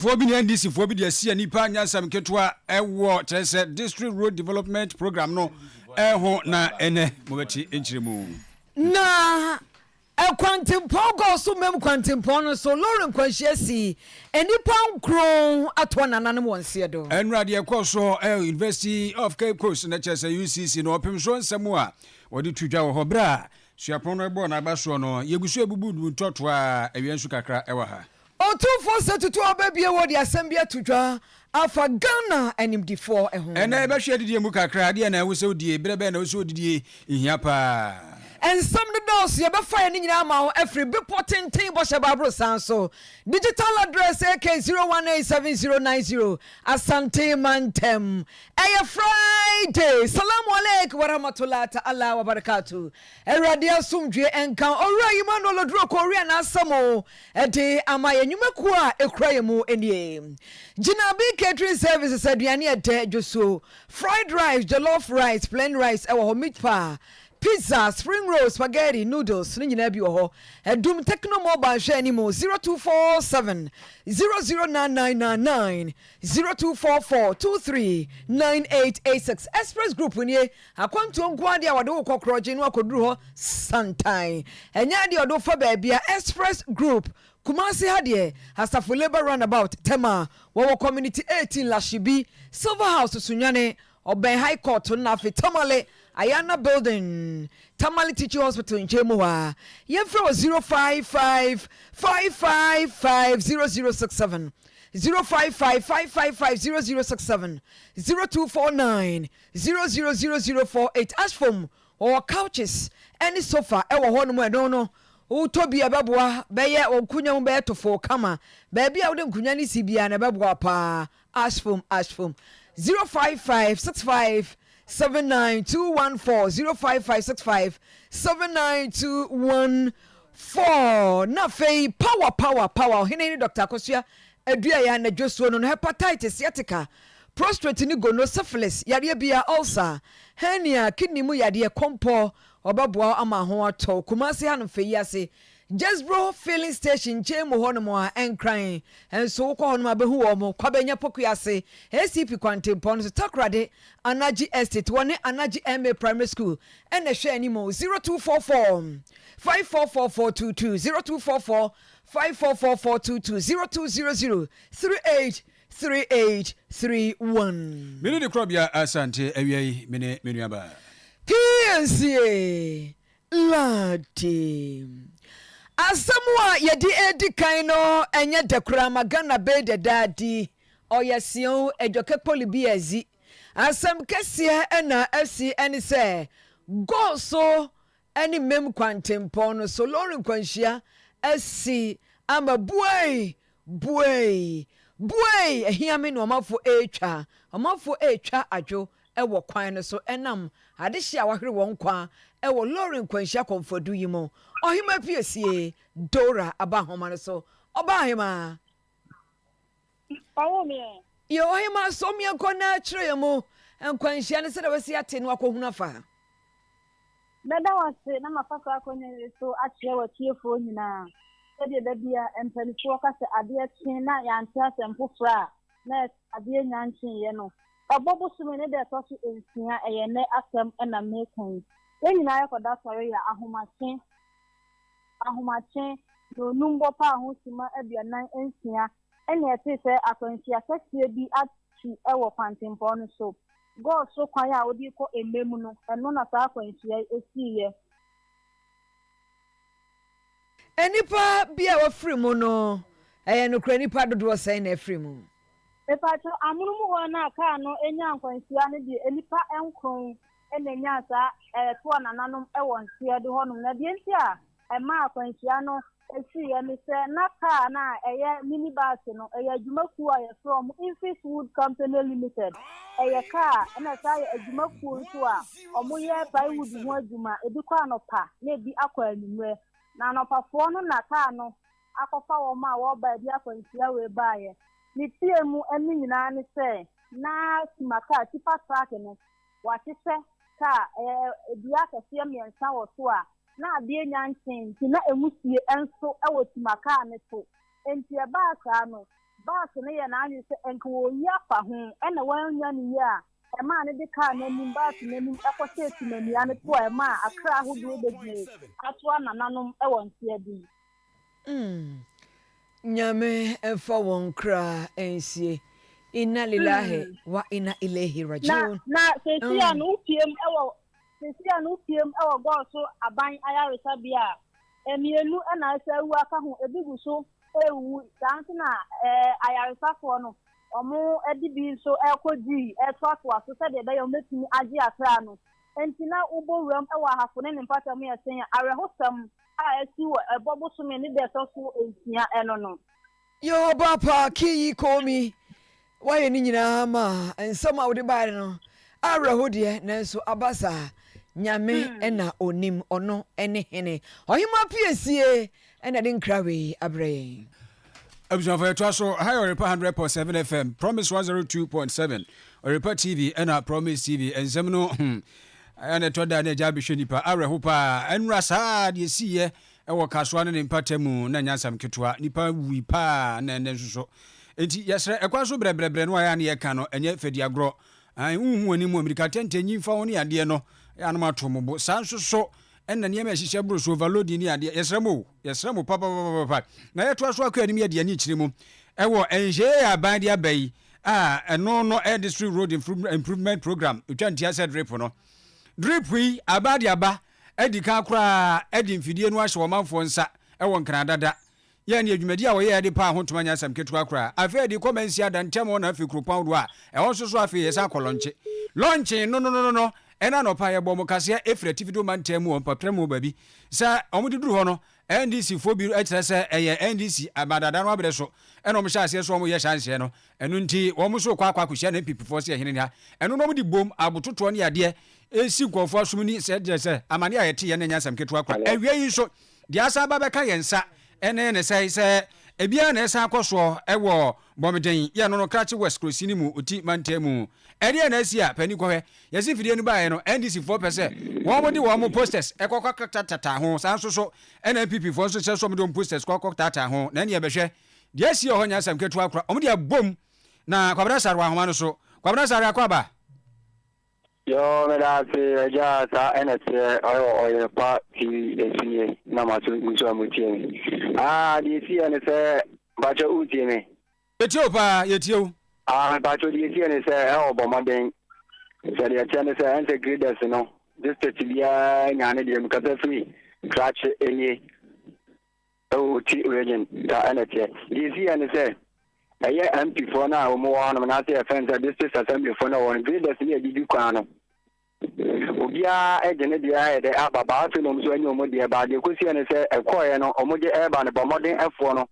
Foɔ bi ne NDC foɔ bi de asi nnipa nyansam nketewa wɔ kyerɛ sɛ District Road Development Programme no ho na ɛnɛ mobɛte nkyerɛmu. Na akwantempɔn kɔɔ so Mem kwantempɔn no so lorry nkwanhyia sii, nnipa nkron atoa nananom wɔ nseɛ do. Nnora deɛ ɛkɔɔ so wɔ University of Cape Coast no kyerɛ sɛ UCC no ɔpem so nsɛm a wɔde to dwa wɔ hɔ berɛ a suapɔn no bɔɔ n'aba soɔ no yɛgu so abubu ntɔtoa awia nsu kakra wɔ ha. Otumfoɔ Satutu Ababie Wode asɛm bi ato dwa afa Ghana animdefoɔ ho. Ɛnnɛ yɛbɛhwɛ adidie mu kakra, adeɛ na ɛho sɛ wodie, berɛ bɛn na ɛwɔ sɛ wodidie, ɛhia paa. Nsɛm no dɔɔso, yɛbɛfa yɛn ne nyinaa ama wo afiri Bepɔ Tenten Bɔhyɛ Bible San so, digital address AK 018709 Asante Mantam. Ɛyɛ Friday, Salamu Aleik Warahmatulah Ta'ala Wabarakatuh. Awurade asomdwoeɛ nka Owura Emmanuel Oduro Korea n'asɛm o, Ɛde ama yɛn nnwumakuo a ɛkura yɛn mu nie. Gyinabe Catering Services aduane yɛ dɛ, dwosuo, fried rice, jollof rice, plain rice ɛwɔ hɔ, meat pie, pizza, spring rolls, spaghetti, noodles ne nyinaa bi wɔ hɔ. Adum Tecno Mobile hwɛ anim 0247 009999 0244 239886 Express Group nie Akwantuo nko ara deɛ wɔde wo kɔ Korɔgye na wakɔduru hɔ santan. Ɛnyɛ adeɛ a wɔde wo fa baabi a Express Group, Kumasi ha deɛ, Asafo Labour Roundabout, Tema, wɔwɔ Community eighteen, Lashibi, Silver House, Sunyani, ɔbɛn High Court no na afei Tamale, Ayana Building, Tamale Teaching Hospital nkyɛn mu hɔ ara. Yɛmfrɛ wɔ zero five five five five five zero zero six seven, zero five five five five five zero zero six seven, zero two four nine. Zero zero zero zero four eight as for mu wɔwɔ couches ɛne sofa ɛwɔ hɔ nom ɛno no wotɔ bi ɛbɛboa bɛyɛ wɔ nkunya mu bɛyɛ tofoo kama baabi a wode nkunya no si biara no ɛbɛboa wo paa as for mu as for mu zero five five six five seven nine two one four zero five five six five seven nine two one four na afei power power power ɔhene ne dɔkta akosua Aduaeɛ anadwo suo no no hepatitis, sciatica, prostrate ne gono, syphilis, yareɛ biaa, ulcer, hernia, kidney mu yadeɛ, kɔmpɔ, ɔbɛboa wo ama ho atɔ wo. Kumasi ha no fɛ yi ase Jesbro filling station nkyɛn mu hɔ nom a ɛnkran nso wo kɔ hɔ nom a bɛhu wɔn mo Kwabɛ nya Poku ase ACP Kwantempɔn no so Takoradi Anagye Estate wɔ ne Anagye MA Primary School ɛna ɛhwɛ anim 0244 544422 0244 Five four four four two two zero two zero zero three eight three eight three one. Mene ne korɔbea Asante awia yi me ne me nuabaa. Piesie Lardy. Asɛm a yɛde redi kan no ɛnyɛ dɛ koraa ma Ghana bɛyi dɛdɛ adi. Ɔyɛ seɛw Adwoke Kpolibiyadzi. Asɛm kɛseɛ na asi ɛne sɛ, Go so ne Mem kwantempɔn no so lɔre nkwanhyia asi ama buei! Buei! Buei! Ahia me ne ɔmafo retwa. Ɔmafo retwa adwo wɔ kwan no so nam adehye a wɔahwere wɔn nkwa wɔ lɔre nkwanhyia kɔmfodu yi mu. Ɔhemmaa piesie, Dora, aba nhoma no so. Ɔbaahemaa! Ɔwɔ mi ɛ. Yɛ ɔhema sɔ mi ɛkɔ na kyerɛ yɛ mo nkwanhyia ne sɛdeɛ wasi ate no akɔhunu afa. Mɛda wo ase na mafa saa akɔnya wei so akyerɛ w'atiefoɔ nyinaa sɛdeɛ da bi a mpaninfoɔ ka sɛ adeɛ kye na yɛante asɛm foforɔ a na ɛsɛ adeɛ nya nkyeeɛ no. Ɔbɔ bosome ne da ɛtɔ so nsia ɛyɛ nnɛ asɛm na meka yi. Yɛn nyinaa yɛkɔda sɔre yɛ ahomakye. ahomakye, na onum bɔ paa ho simma aduanan nsia na ɛte sɛ akwanhyia kɛseɛ bi atu wɔ kwantempɔn no so. Gold so kwan a wode kɔ Emɛ mu no, ɛno na saa akwanhyia yi siiɛ. Nnipa bi a wɔafiri mu no, ɛyɛ nokorɛ nnipa dodoɔ sɛn na afiri mu? Mepaakyɛw, amonom hɔ no a kaa no nyaa nkwanhyia no deɛ, nnipa nkron na enyaa saa ɛtoɔ nananom wɔ Nseɛdo hɔnom. Na deɛ nti a ɛmaa akwanhyia no siiɛ ne sɛ na kaa no a ɛyɛ mini bus no, ɛyɛ adwuma kuo a yɛfrɛ wɔn Infis Wood Company Limited. Ɛyɛ kaa na ɛsan yɛ adwuma kuo nso a wɔyɛ plywood ho adwuma. Ebi kɔ anɔpa na ebi akɔ anwummerɛ. Na anɔpafoɔ no na kaa no akɔfa wɔn a wɔreba baabi akwanhyia wei baeɛ. Metiee mu ne nyinaa ne sɛ na sima kaa, tipa truck no, wɔahyehyɛ kaa ɛɛ dua akɛseɛ mmiɛnsa wɔ so a na adeɛ nya nkyee nti na ɛmu sie nso wɔ sima kaa no so. Enti ɛbaa saa no, Bas no yɛɛ n'adwene sɛ ɛnka wɔreyi afa ho na wɔannya no yie a ɛmaa no de kaa no anim Bas no anim kɔhyɛɛ sima nnua no so a ɛmaa akra ahodoɔ bɛgyinaa atoa nananom wɔ nteaden. Mm Nyame mfa wɔn kra nsie Inna lilahi mm. wa inna ilehi rajiun Na, na sesi a mm. no wopiem ɛwɔ sesi a no wopiem ɛwɔ gɔɔ so aban ayaresabea a mmienu na ɛsɛ awu aka ho ebi gu so ɛrewu saa nso na ɛɛ ayaresafoɔ no wɔn de bi nso ɛrekɔ gyi ɛretoatoa so sɛdeɛ ɛbɛyɛ wɔn bɛtumi agye akra no nti na wobɔ wuram ɛwɔ ahafo ne ne mpata mu yɛ sɛn awerɛhosɛm a ɛsi wɔ ɛbɔ bosome ne da ɛtɔ so nsia ɛno no. Yehoba paa kin yi komi. Wayɛ ne nyinaa ma nsɛm a wode baeɛ no awerɛho deɛ, nanso aba saa. Nyame na ɔnim, ɔno ne Hene. Ɔhemmaa piesie na ɛde nkra wei abrɛ yɛn. abusuafo yɛtoa so ha yɛ ɔrepa 100.7 fm promise 102.7 ɔrepa tv ɛna promise tv nsɛm no hmm, ɛna ɛtɔ da na agya abɛhwɛ nipa awerɛho paa ɛnura saa deɛ siiɛ ɛwɔ kasoa no ne mpata mu na nyansam ketewa nipa wui paa na ɛnɛ nso so nti yɛsrɛ ɛkwa so brɛbrɛbrɛ no ayɛ a ne yɛka no ɛnyɛ fadiagorɔ wohu anim amirika tɛntɛnyi mfa ho ne adeɛ no yɛ anom ato mo bo saa nso so ɛna nneɛma ɛhyehyɛ boro so overloading ne adeɛ yɛsrɛ mo yɛsrɛ mo papapapapa na yɛtoa so akɔ anim yɛde ani kyerɛ mu ɛwɔ ɛnhyɛɛ yɛ aban de aba yi a ɛno no ɛyɛ district road improvement program ɛtwa ntia sɛ drip no drip yi aba de aba ɛdi kan koraa ɛde mfidie no ahyɛ ɔmanfoɔ nsa ɛwɔ nkran dada Yɛn deɛ dwumadi a wɔyɛɛ de paa ho ntoma nyɛ asɛm ketewa koraa. Afei ade kɔ mansia da ntam hɔ na afei kuropɔn doɔ a ɛhɔ nso so afei yɛsan kɔ lɔnkye. Lɔnkye nnonononono ɛna anɔpa yɛbɔɔ wɔn kaseɛ ɛfiri atifi do mantam mu wɔ mpɔtrɛm mu baabi. Sɛ wɔde duru hɔ no NDC foɔ bi kyerɛ sɛ ɛyɛ NDC ama dada no abrɛ so ɛna wɔhyɛ aseɛ sɛ wɔyɛ hyɛnseɛ no ɛno nti wɔn nso rekɔ akɔ akɔhyia NPP foɔ sɛ ɛhene ha ɛno na wɔde bom abototoɔ ne adeɛ ɛsi nkurɔfoɔ asom ni. Sɛ ɛdeɛ sɛ amaneɛ a yɛteeɛ no nyɛ asɛm ketewa koraa. Awia yi nso Deɛ asan ba bɛka yɛn nsa ne ne sɛe sɛ ebiara na ɛresan akɔ soɔ wɔ Bɔmeden yɛ no no Kratse West Kurosin no mu Oti mantam mu. Ɛdeɛn na asi a panin kɔhwɛ? Yɛsi mfidie no baeɛ no NDC foɔ pɛ sɛ wɔn de wɔn posters kɔ kɔtatata ho saa nso so na NPP foɔ nso sɛ sɛ wɔn de wɔn posters kɔ kɔtaataa ho na ɛneɛ bɛhwɛ deɛ asi wɔ hɔ nyɛ asɛm ketewa kora wɔn de abom na Kwabena Sarwah ahoma no so Kwabena Sarwah kɔ aba. Yoo meda ase agya saa ɛna teɛ ɔyɛ ɔyɛ pa tv ɛsi yɛ na ma so nso a mo tie me aa deɛ ɛsi yɛ ne sɛ bakyɛ wo tie me yɛtie wo paa yɛtie wo aa bakyɛ deɛ ɛsi yɛ ne sɛ ɛwɔ bɔ mmɔden sɛ deɛ ɛteɛ ne sɛ ɛnsɛ graders no district biara nyaa ne deɛ mu kasa firi krakye ɛnie Oh ti regin saa ɛna ɛteɛ. Deɛ ɛsi yɛ ne sɛ ɛyɛ MP foɔ no a wɔn wɔ hɔnom anaasɛ yɛfrɛ no sɛ district assembly foɔ no a wɔn no graders ne ɛdidi kwan no obiara gye ne deɛ ayɛ dɛ aba baa afei na wɔn nso anya wɔn deɛ baa deɛ ɛkɔsi yɛ ne sɛ ɛkɔɔeɛ no wɔn gye ɛreba no bɔ mmɔden ɛfoɔ no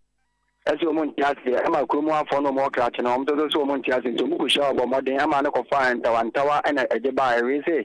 ɛsɛ wɔn nte aseɛ ɛma kurom afoɔ no wɔn wɔ krakye no wɔn nso sɛ wɔn nte aseɛ nti wɔn kɔhyia wɔn bɔ mmɔden ɛma no kɔfa ntawa ntawa ɛna ɛgye baa ɛwee sɛ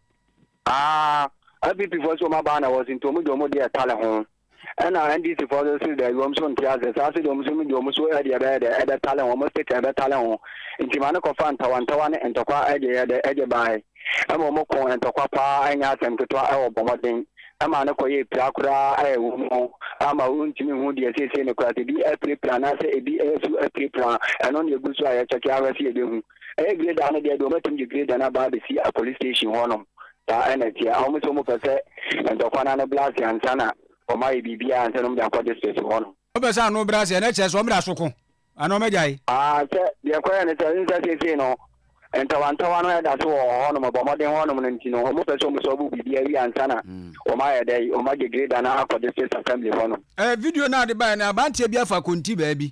Aah NPP foɔ se wɔn abaa na wɔse nti wɔn de wɔn deɛ tale ho ɛna NDC foɔ nso se daabi wɔn nso nte ase saa se deɛ wɔn nso de wɔn nso ɛde ɛbɛyɛ dɛ ɛbɛ tale ho wɔn stick ɛbɛ tale ho nti ma ne kɔfa ntawa ntawa ne ntɔkwa ɛde yɛ dɛ ɛde baae ɛma wɔn ko ntɔkwa paa ɛnyɛ asɛm ketewa ɛwɔ bɔ mmɔden ɛma ne kɔyɛ pira koraa ɛyɛ wɔn mu ama wɔntumi hu deɛ seesei ne kora sɛ ebi apirapira anaasɛ ebi ɛyɛ so apirapira ɛno na egu so a yɛkyɛke ahwɛ se yɛbɛhu Ɛyɛ grader no deɛ deɛ wɔn atumi de grader no aba abɛsi a police station hɔ nom saa ɛna ɛteɛ a wɔn nso wɔn pɛ sɛ ntɔkwa no ano blase ansa na wɔn ayɛ biribiara ansa na wɔn de akɔ district hɔ nom. Wɔn pɛ sɛ ano blase ɛna ɛkyɛ sɛ wɔn de aso ko anaa wɔn agyae. Aa sɛ deɛ ɛkɔyɛ no sɛ nsɛ seesei no ntawantawa no ɛda so wɔ hɔ nom bɔ mmɔden hɔ nom no nti no wɔn pɛ sɛ wɔn sɔbo biribiara wie ansa na wɔn ayɛ dɛ wɔn agye grader no akɔ district assembly hɔ nom. Ɛɛ video no a de baeɛ no aberanteɛ bi afa konti baabi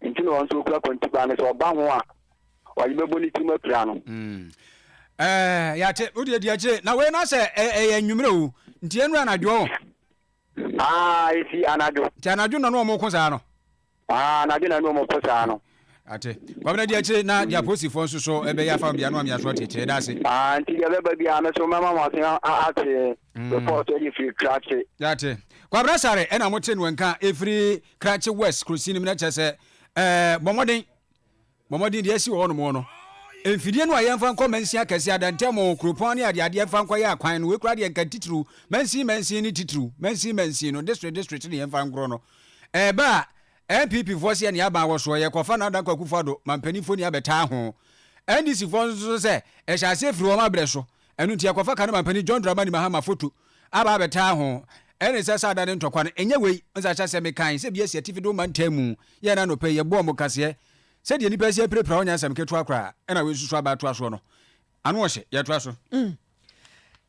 Enti na ɔno nso ɔkura kɔntibaa no, sɛ ɔba ho a, ɔde bɛbɔ ne tirim apira no. Mm. Ɛɛ, yɛate, wodeɛ di akyire. Na wei na sɛ ɛyɛ anwummerɛ o, nti ɛnu anadwo o. Aa, ɛsi anadwo. Nti anadwo na no ɔmo ko saa no? Aa, anadwo na no ɔmo ko saa no. Ate. Kwabena di akyire na deɛ aposifoɔ nso so ɛbɛyɛ afa bia no ame aso ate akyire. Yɛda ase. Aa, nti deɛ ɛbɛba biara no so mɛma mo aso ate. before sɛ yɛ firi krakye. yate kwabra sare ɛna mo te no nka efiri krakye west kurosi nim na kyɛ sɛ ɛɛ bɔmɔden bɔmɔden deɛ ɛsi wɔ nom no mfidie no a yɛmfa nkɔ mansin akɛse adantɛmo kuropɔn ne adeɛ adeɛ mfa nkɔ yɛ akwan no wekura deɛ nka titiriw mansin mansin ne titiriw mansin mansin no district district ne yɛmfa nkorɔ no ɛɛba a npp foɔ seɛ ne aban wɔ soɔ yɛkɔfa no adankɔ akufo ado mampanimfoɔ ni abɛtaa ho ndc foɔ nso sɛ ɛhyɛ aseɛ firi wɔn abrɛ so Ɛno nti yɛkɔfa Kanema Panin John Dramani Mahama foto aba abɛtaa ho. Ɛne sɛ saa da no ntɔkwa no ɛnyɛ wei. Nsahyɛ sɛ mekae sɛ bi asi atifi de wo mantam mu. Yɛɛ no anɔpa yi, yɛbɔɔ mo kaseɛ. Sɛdeɛ nnipa si apirapira hɔ nyɛ asɛm ketewa koraa. Ɛna wei nso so aba atoa soɔ no, ano ɔhye. Yɛtoa so.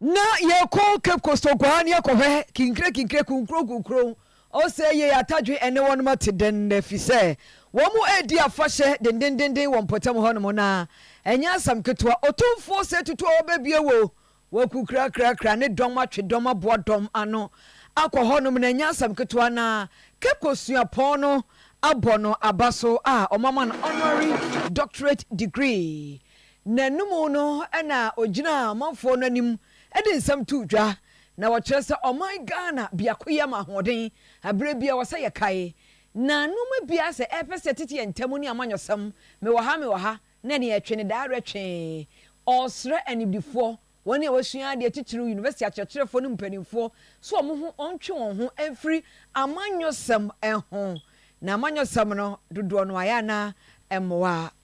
Na yɛkɔ Cape Coast Oguaa ne akɔhwɛ Kinkire Kinkire Kunkuro Kunkuro Ose yei atadwe ɛne wɔnom ate dɛn nnɛ fi sɛ wɔn mo ɛredi afahyɛ dendendenden wɔ mpɔtam hɔ nom na ɛnyɛ asɛm ketewa Otumfoɔ ose tutu a wɔbɛbue wo waku krakrakra ne dɔm atwe dɔm aboa dɔm ano akɔ hɔ nom na ɛnyɛ asɛm ketewa na Kepco suapɔn no abɔ no aba so a wɔn ama no honorary doctorate degree N'anom no na ɔgyinaa amanfoɔ no anim de nsɛm too dwa Na wɔkyerɛ sɛ ɔman Ghana biakoyɛ ma ahoɔden, ɛberɛ biara wɔ sɛ yɛkae. Na nnoɔma biara sɛ ɛrepɛ sɛ ɛtete yɛn ntam ne amanyɔsɛm, mewɔ ha, mewɔ ha, na nea ɛtwe ne dawerɛ twe. Ɔresrɛ animdefoɔ, wɔn a wɔasua adeɛ titiriw, University akyerɛkyerɛfoɔ ne mpaninfoɔ sɛ wɔn ho wɔntwe wɔn ho mfiri amanyɔsɛm ho. Na amanyɔsɛm no dodoɔ no ayɛ a na ɛmmoa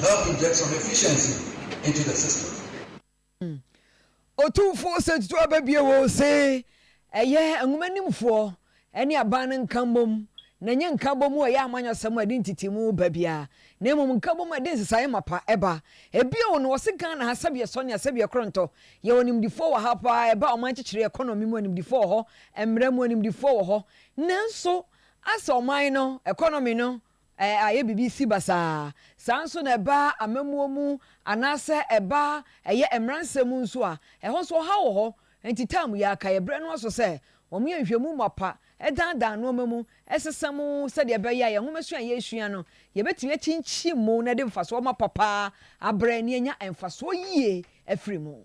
help inject some efficiency into the system. Otumfoɔ Sexto Ababie Woo se ɛyɛ nwomanimfoɔ ne aban no nkammom na ɛnyɛ nkabom a ɛyɛ amanyɔsɛm a ɛde ntetemu ba biara na mmom nkabom a ɛde nsesaeɛ mapa ba. Bio no ɔse Ghana ha sɛbeɛ sɔnea sɛbeɛ korɔntɔ yɛwɔ animdifoɔ wɔ ha paa ɛba ɔman kyekyere economy mu animdifoɔ wɔ hɔ, mmara mu animdifoɔ wɔ hɔ nanso asɛ ɔman no economy no ayɛ biribi si basaa. Saa ara nso na ɛba amammuo mu anaasɛ ɛba ɛyɛ mmaransɛm mu nso a, ɛhɔ nso ɔhaw wɔ hɔ. Enti taa mu yɛ, kae ɛberɛ no ara so sɛ wɔyɛ nhwɛmu mapa, danedane nnoɔma mu, sesa mu sɛdeɛ ɛbɛyɛ a yɛn nwomasua a yɛresua no, yɛbɛtumi akyinkyim mu na de mfasoɔ mapa paa abrɛ na yɛanya mfasoɔ yie afiri mu.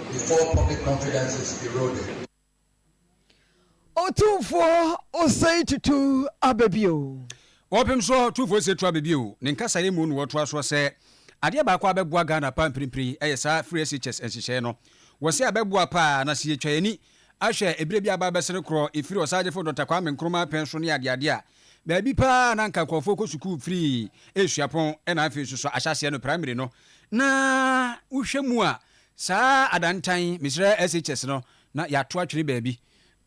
before public confidence is eroded. Otumfoɔ Osei Tutu aba bio. Wɔpem so Otumfoɔ Osei Tutu aba bio. Ne nkasaeɛ mu na wɔtoa soɔ sɛ, Adeɛ baako a abɛboa Ghana paa mprempren yi yɛ saa Free SHS nhyehyɛeɛ no. Wɔse abɛboa paa na sɛ yɛtwa yɛn ani ahwɛ ɛberɛ bi a aba abɛse no korɔ ɛfiri Ɔsaagyefo Dɔkta Kwame Nkrumah pɛn so ne adeade a baabi paa a na anka nkurɔfoɔ kɔ sukuu firi suapɔn na afei nso so ahyɛaseɛ no, primary no, na wohwɛ mu a Saa adantan yi, mesrɛ SHS no na yɛato atwene baabi.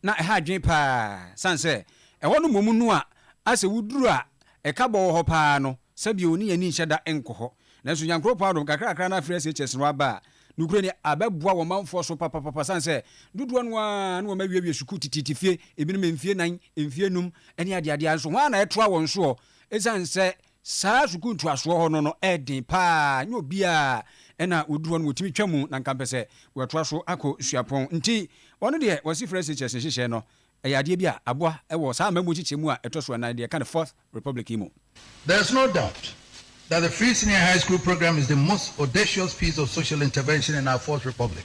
Na ɛha adwene paa, sane sɛ ɛhɔ no mmom no a asɛ woduru a ɛka bɔ wɔ hɔ paa no, sɛbio ne yɛn ani nhyɛ da nkɔ hɔ. Nanso Nyankoropɔn adom, kakrakra no afiri SHS no aba a, nokorɛ ni, abɛboa wɔ manfoɔ so papapapa, sane sɛ dodoɔ no ara no wɔn awiawie sukuu tititi fie, ebinom mfie nan, mfie num, ne adeadeɛ a, nso hwan na ɛtoa wɔn soɔ? Esiane sɛ Saa sukuu ntoasoɔ hɔ no no ɛɛden paa nyɛ obiaa ɛna ɔduru hɔ no wɔtumi twa mu na nka mpɛ sɛ watoa so akɔ suapɔn nti ɔno deɛ wɔse fresh teachers nhyehyɛɛ no ɛyɛ adeɛ bi a aboa wɔ saa amamuo nkyekyɛ mu a ɛtɔso ɛnan deɛ ɛka no fourth republic yi mu. There is no doubt that the free senior high school program is the most audacious piece of social intervention in our fourth republic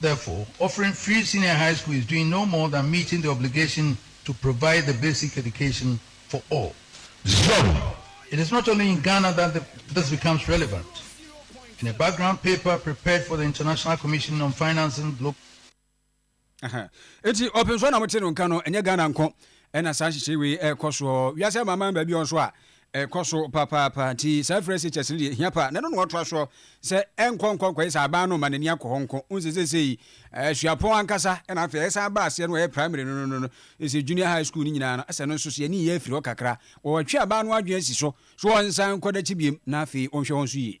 Therefore, offering free senior high school is doing no more than meeting the obligation to provide the basic education for all. Zone. It is not only in Ghana that the this becomes relevant. In a background paper prepared for the International Commission on Financing Global Eti ɔpɛ nso na mote no nka no ɛnyɛ Ghana nko ɛna saa nhyehyɛe wei ɛrekɔ soɔ wiase amanaman baabi nso a Ɛkɔ so papaapa. Nti saa frɛ SHS no deɛ ɛhia paa. Na ɛno na wɔtoa soɔ sɛ ɛnkɔ nkɔ nkɔyɛ sɛ aban no mma n'ani akɔ hɔ nko. Wohu sɛ seesei eh, suapɔn ankasa na afei ɛsan ba aseɛ no wɔyɛ primary no no no no sɛ junior high school no nyinaa no sɛ no nso so yɛne yɛ afiri hɔ kakra. Wɔatwe aban no adwene asi so so wɔnsan nkɔ dakyi biam na afei wɔnhwɛ hɔ nso yie.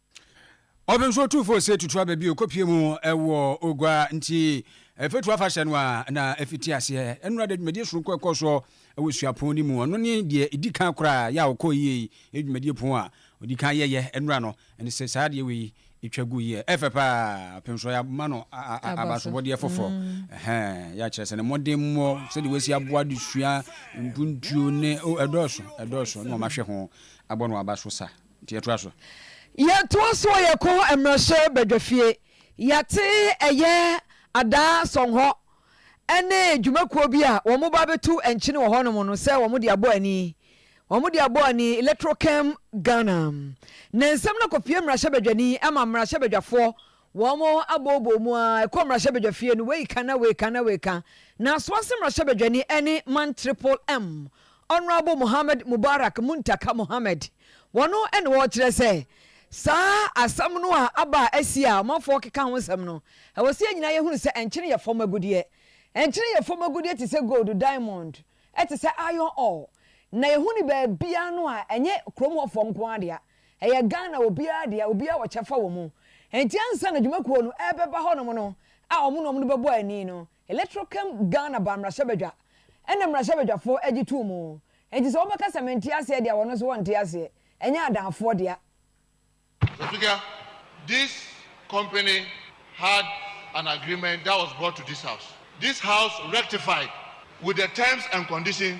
Ɔpem so tu fo se tutu aba bi okopie mu wɔ Ogua nti Ɛfetu afahyɛ no a na afiti aseɛ. Nnora de dwumadie soronko ɛkɔ soɔ wɔ suapɔn no mu. Ɔno ne deɛ edi kan koraa yɛ a ɔkɔɔ yie yi. Yɛ dwumadie pon a ɔdi kan yɛyɛ nnora no ne sɛ saa adeɛ wei twa gu yie. Ɛfɛ pa ara. Ɔpem so yɛama no abasobɔdeɛ foforɔ. Ɛhɛn, yɛ akyerɛ sɛ ne mmɔden mmɔ sɛdeɛ wasi aboa adesua mpuntuo ne, oh, ɛdɔɔso, ɛdɔɔso na wɔahwɛ ho abɔ no aba so sa. Nti yɛtoa so. Yɛtoa so a yɛkɔ Mmarahyɛ Badwafie. Yɛate ɛyɛ Adaa Sɔnhɔ ne dwumakuo bi a wɔn ba bɛtu nkyene wɔ hɔ nom no sɛ wɔn de abɔ ani. Wɔn de abɔ ani Electrochem Ghana. Ne nsɛm no kɔpue Mmarahyɛ Badwani ma Mmarahyɛ Badwafoɔ Wɔn abooboo mu ara ɛkɔ mmarahyɛbadwafie no wei ka na wei ka na wei ka. Na asoase mmarahyɛbadwani ne man Tripple M, Honourable Mohammed Mubarak Muntaka Mohammed. Wɔn na wɔkyerɛ sɛ saa asɛm no a aba a asi a ɔmanfoɔ keka ho nsɛm no, ɛwɔ sɛ yɛn nyinaa yɛhunu sɛ nkyene yɛ fam agudeɛ. Nkyene yɛ fam agudeɛ te sɛ gold, diamond, ɛte sɛ iron ore. Na yɛhu no baabiara no a ɛnyɛ kurom hɔfoɔ nko ara dea. Ɛyɛ Ghana obiara dea, obiara wɔ kyɛfa wɔ mu. Enti ansa na dwuma kuo no ɛrebɛba hɔnom no a wɔn na wɔn de bɛbɔ ani no, Electoral came Ghana baa mmarahyɛbadwa ɛna mmarahyɛbadwafoɔ ɛgye too mu. Enti sɛ wɔbɛka sɛ mente aseɛ de a wɔn nso wɔnte aseɛ, ɛnyɛ adaafoɔ dea. Mister Speaker, this company had an agreement that was brought to this house. This house rectified with the terms and conditions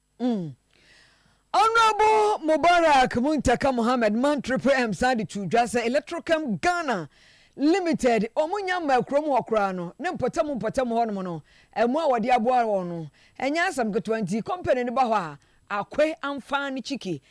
Mm. Honourable Mubarak Muntaka Mohammed Mantri PM san de too dwa sɛ Electrochem Ghana Limited wɔn nya mmaa kuro mu hɔ koraa no ne mpɔtam mpɔtam hɔ nom no mmoa a wɔde aboa wɔn no nyɛ asɛm ketewa nti company no ba hɔ a Akwe Amfaan Chiki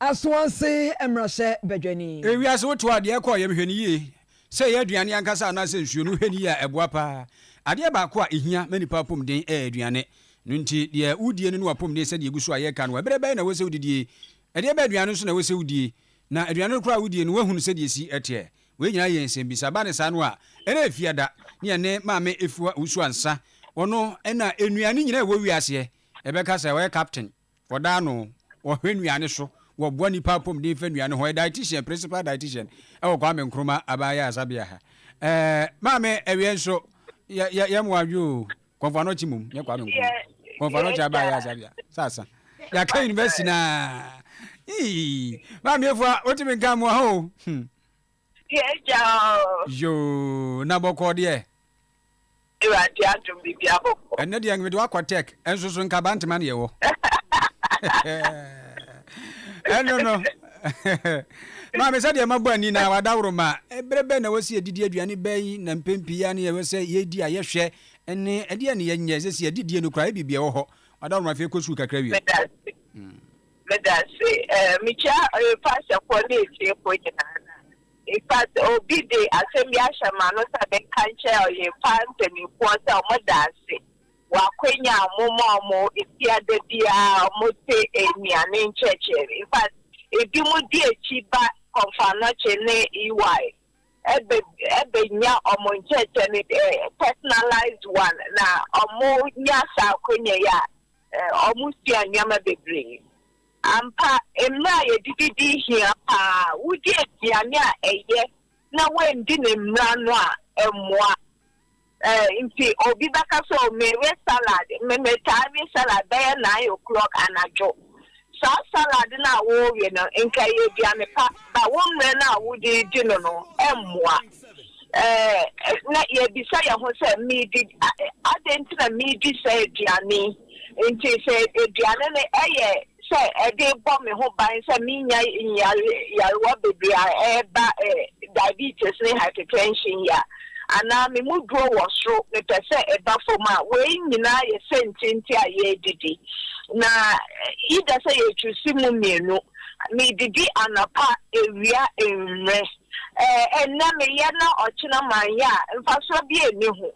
Asoanse mmarahyɛ badwani. Ewiase wo to adeɛ kɔ yam hwɛ no yie sɛ ɛyɛ aduane ankasa anaa sɛ nsuo no hwɛ no yie a ɛboa paa adeɛ baako a ɛhia ma nipa apomden ɛyɛ aduane no nti deɛ wo die no ne wapomden sɛdeɛ ɛgu so a yɛka no ɛberɛ bɛn na ɛwɔ sɛ wo didie ɛdeɛ bɛn aduane nso na ɛwɔ sɛ wo die na aduane no koraa a wo die no wahunu sɛdeɛ ɛsi ɛteɛ wei nyinaa yɛ nsɛm bisa ba ne saa no a ɛna ɛfia da ne ɛne maame ɛfua wusu ansa ɔno ɛna nnuane nyinaa ɛwɔ wiaseɛ ɛbɛka sɛ ɔyɛ captain Wɔda ano, wɔhwɛ nnuane so, wɔboa nnipa apɔmuden fa nnuane ho. Dietitian, Principal Dietitian wɔ Kwame Nkrumah Aban Ayaresabea ha. Ɛɛ, maame ɛwia nso, yɛ yɛ yɛ mmoa adwo o. Kɔnfɔ ano kyi mum, yɛ Kwame Nkrumah. Kɔnfɔ ano kyi Aban Ayaresabea. Sasa. Yɛaka university naa. Ii, maame efua, wotumi nka mmoa ho o. Hmm. Yɛgyaw. Yoo, na bɔkɔɔ deɛ. Awurade adom biribi abɔkɔ. Ɛnɛ deɛ mede wakɔ tech, ɛnso so nkaba ntema na yɛwɔ. Ɛno no. Maame sɛ deɛ mabɔ ani na wadaworo ma ɛberɛ bɛn na ɛwɔ sɛ yɛdidi aduane bɛyi na mpɛn pii a ne yɛwɔ sɛ yɛdi a yɛhwɛ ne ɛdeɛ ne yɛnyɛ sɛ sɛ yɛdidie no koraa ɛbibia wɔ hɔ wadaworo ma afei kɔ sukuu kakra wie. Meda ase. Eh, mikyia eh, pastorfoɔ ne atiefoɔ nyinaa na. In fact, obi de asɛm bi ahyɛ m'ano sɛ menka nkyɛ ɔyɛmpa mpanimfoɔ sɛ wɔn da ase wɔ akwanya a wɔma wɔn etia da biara wɔte nnuane nkyerɛkyerɛ. In fact, ebi mo di akyi ba Kɔmfannɔkye ne EY ɛbɛ ɛbɛnya wɔn nkyerɛkyerɛ ne eh, personalized one na wɔnya saa akwanya yi a Wɔsua nneɛma bebree. Ampa, mmere a yedidi di hia paa. Wudi aduane a eye na woanndi ne mmara no a, ɛmmoa. Enti obi bɛka sɛ, Oh, mewe salad. Metaa we salad bɛyɛ nine o'clock anadwo. Saa salad no a worewe no, nka ɛyɛ aduane pa, but wo mmerɛ no a wode redi no no mmoa. Ɛɛ, na yɛrebisa yɛn ho sɛ, 'Meredi adɛn nti na meredi saa aduane yi? Enti sɛ aduane no yɛ sɛ ɛde rebɔ me ho ban sɛ menya nyarewa bebree a ɛba diabetes ne hypertension yi a, anaa me mu duro wɔ soro, mepɛ sɛ ɛba fam a, wei nyinaa yɛ sɛntienti a yɛredidi. Na either sɛ yɛchusi mu mmienu, medidi anɔpa, awia, anwummerɛ. Ɛnnɛ meyɛ na ɔkyena manyɛ a, mfasoɔ biara nni ho.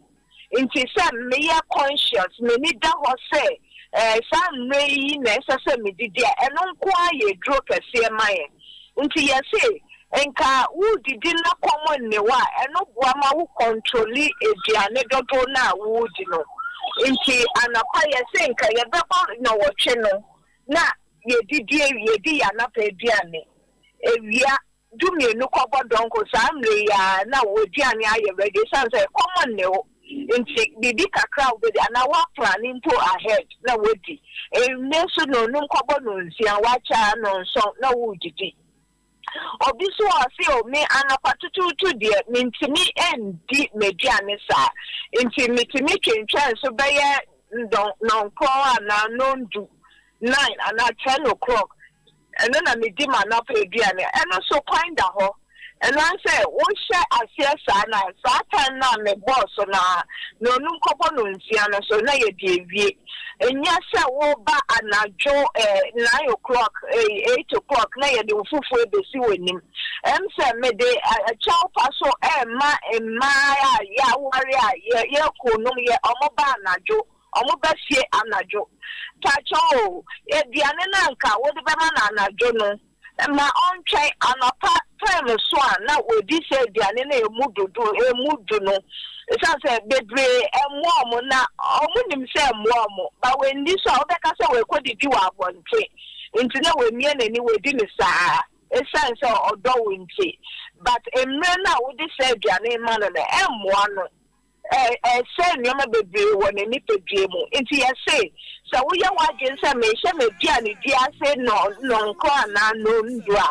Nti sɛ meyɛ conscious, m'ani da hɔ sɛ saa mmerɛ yi na ɛsɛ sɛ medidi a, ɛno nko ara yɛ duro kɛseɛ ma yɛn. Nti yɛse nka woredidi na kɔm nne wo a, ɛno boa ma wo kɔntroli aduane dodow no a woredi no. Nti anɔpa yɛse nka yɛbɛbɔ nnɔwɔtwe no na yɛdidi awie, yɛdi yɛn anɔpa aduane, awia du mmienu kɔbɔ dɔnko saa mmerɛ yi ara na w'aduane ayɛ ready ɛsiane sɛ kɔm nne wo. Ntsi biribi kakra a wobedi anaa wɔaplan mpo ahead na woedzi. Ndɛ so no onum kɔbɔ no nsia, ɔakyɛ a no nsɔn na worididi. Obi so a ɔse oh me anapa tutuutu deɛ menntumi nndi m'aduane saa ntsi metumi twentwɛn so bɛyɛ nnɔnkrɔn anaa nnɔndu, nine anaa ten o'clock Ɛno na medi m'anɔpa aduane. Ɛno nso, kwan da hɔ. Ɛno ara ne sɛ, wohyɛ aseɛ saa no a, saa tan no a mebɔɔ so no ara na ɔnum kɔbɔ no nsia no so na yɛde awie. Ɛnyɛ sɛ woreba anadwo nine o'clock, eight o'clock na yɛde wo fufuo rebɛsi w'anim. Ɛm sɛ mede kyɛwpa so rema mmaa a yɛaware a yɛakununom yɛ, wɔba anadwo Wɔba fie anadwo. Pakyɛ o, aduane no a anka wode bɛma no anadwo no, ma ɔntwɛn. Anɔpa time so a na wɔadi saa aduane no a ɛmu dodo, ɛmu du no. Ɛsiane sɛ bebree mmoa wɔn, na wɔnim sɛ ɛmmoa wɔn. But wɔanni so a, wobɛka sɛ wɔrekɔdidi wɔ abɔnten. Nti na wamia n'ani, wadi no saa ara, ɛsiane sɛ ɔdɔ wo nti. But mmerɛ no a wode saa aduane no ma no no, ɛmmoa no. Ɛsɛe nneɛma bebree wɔ ne nipadua mu. Enti yɛse, sɛ woyɛ w'adwene sɛ menhyɛ m'aduanedi ase nnɔnkron anaa nnɔndu a,